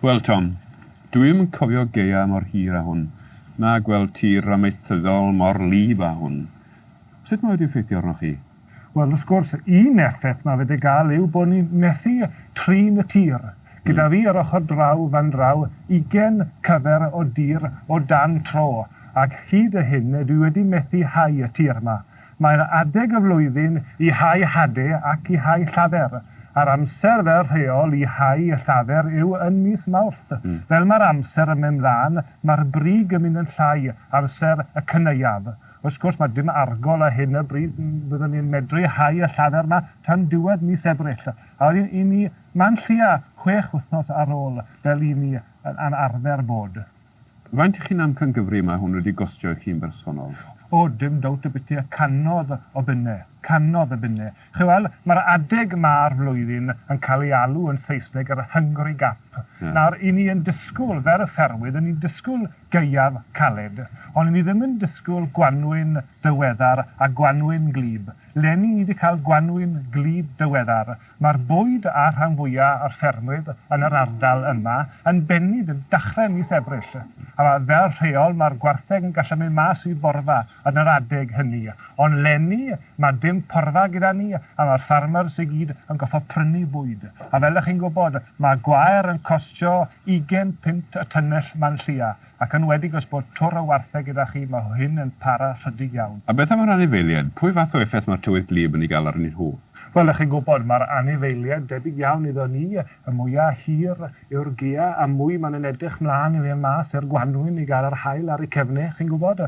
Wel Tom, dw i'm yn cofio gaeaf mor hir â hwn, na gweld tir amaethyddol mor wlyb â hwn. Sut mae wedi effeithio arnoch chi? Wel, wrth gwrs, un effaith mae wedi gael yw bod ni'n methu trin y tir. Gyda fi yr ochr draw fan draw, ugain cyfer o dir o dan tro, ac hyd y hyn dwi wedi methu hau y tir 'ma. Mae'n adeg y flwyddyn i hau hade ac i hau llafur, a'r amser fel rheol i hau y llafur yw yn mis Mawrth. Fel mae'r amser yn mynd mlaen, mae'r brig yn mynd yn llai, amser y cynaeaf. Wrth gwrs, mae dim argol ar hyn o bryd, byddwn ni'n medru hau y llafur yma tan diwedd mis Ebrill, a wedyn 'yn ni man tua chwech wythnos ar ôl, fel 'yn ni yn arfer bod. Faint i chi'n amcangyfri mae hwn wedi gostio i chi'n bersonol? O, dim dowt y byty a canodd o binne. Canodd o binne. Chi weld, mae'r adeg ma'r flwyddyn yn cael ei alw yn Saesneg yr Hungry Gap. Nawr, i ni yn disgwyl, fer y ffermwydd, i ni'n disgwyl gaeaf caled, ond i ni ddim yn disgwyl gwanwyn dyweddar a gwanwyn gwlyb. 'Leni ni 'di cael gwanwyn gwlyb dyweddar. Mae'r bwyd a'r rhan fwya' o'r ffermryd yn yr ardal yma yn bennu bydd dachre mis Ebrill, a mae fel rheol mae'r gwartheg yn gallu mynd mas i borfa yn yr adeg hynny, ond 'lenni mae dim porfa gyda ni a mae'r ffarmers i gyd yn gorfod prynu bwyd, a fel y'ch chi'n gwybod mae gwair yn costio ugen punt y tunnell 'ma'n lleia. Ac ynwedig os bod twr o wartheg gyda chi, mae hyn yn para rhydig iawn. A beth am yr anifeiliaid? Pwy fath o effaith mae'r tywydd gwlyb yn ei gael arnyn nhw? Wel, dych chi'n gwybod, mae'r anifeiliaid debyg iawn iddo ni, y mwya' hir yw'r gia' a mwy maen nhw'n edrych 'mlaen i fynd mas i'r gwanwyn i gael yr haul ar eu cefnau, chi'n gwybod.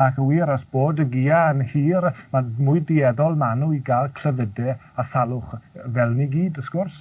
Ac yn wir, os bod y gia' yn hir, mae mwy dueddol maen nhw i gael clefydau a salwch fel ni gyd wrth gwrs.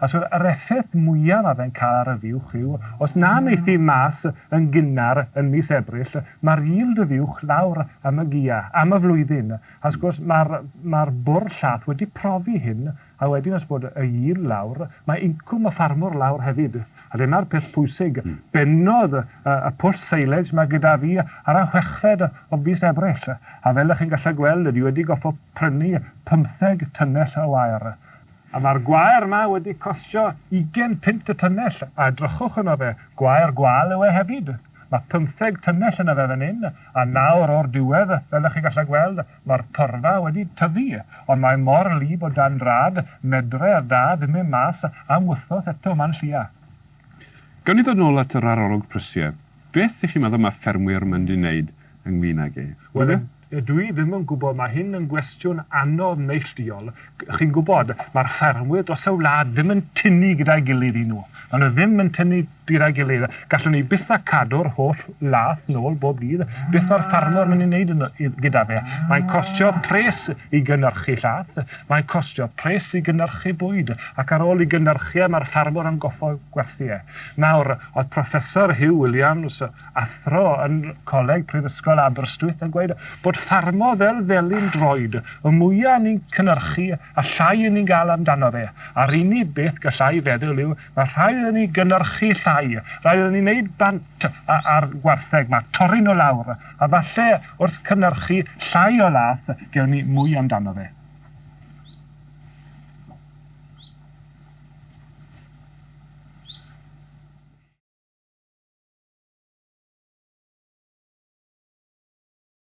A so yr effaith mwyaf a fe'n cael ar yr uwch yw, os na neith hi mas yn gynnar yn mis Ebrill, ma'r yield yr uwch lawr am y gia, am y flwyddyn. A wrth gwrs ma'r ma'r bwrdd llath wedi profi hyn, a wedyn os bod y yield lawr, mae incwm y ffarmwr lawr hefyd. A dyna'r peth pwysig. Bennodd y pwll silage 'ma gyda fi ar y chweched o fis Ebrill, a fel 'ych chi'n gallu gweld, dwi wedi gorfod prynu pymtheg tunnell o wair. A mae'r gwair 'ma wedi costio ugain punt y tunnell, a edrychwch arno fe, gwair gwâl yw e hefyd. Mae pymtheg tunnell yna fe fan hyn, a nawr o'r diwedd, fel 'ych chi'n gallu gweld, Mae'r porfa wedi tyfu, ond mae mor wlyb o dan drad, medre a da ddim e mas am wythnos eto, man llia. Gawn ni ddod nôl at yr arolwg prysie. Beth y'ch chi'n meddwl ma ffermwyr mynd i neud ynglyn ag e? Wel, ydw i ddim yn gwybod, mae hyn yn gwestiwn anodd neillduol. Chi'n gwybod, mae'r ffermwyr dros y wlad ddim yn tynnu gyda'i gilydd i nhw. Ma nhw ddim yn tynnu Gyda'i gilydd, gallwn ni byth a cadw'r holl lath nôl bob dydd, beth mae'r ffarmwr yn ei wneud gyda fe? Mae'n costio pres i gynyrchu llath, mae'n costio pres i gynyrchu bwyd, ac ar ôl i gynyrchu e, mae'r ffarmwr yn goffod gwerthu e. Nawr, oedd Professor Huw Williams, athro yn Coleg Prifysgol Aberystwyth, yn gweud bod ffarmo fel felin droed, y mwya' ni'n cynyrchu, Allai i ni gael amdano fe. A'r unig beth galla i feddwl yw, mae rhaid iddo ni gynyrchu llai, rhaid iddo ni wneud bant â'r gwartheg 'ma, torri nhw lawr, a falle wrth cynyrchu llai o lath, gewn ni mwy amdano fe.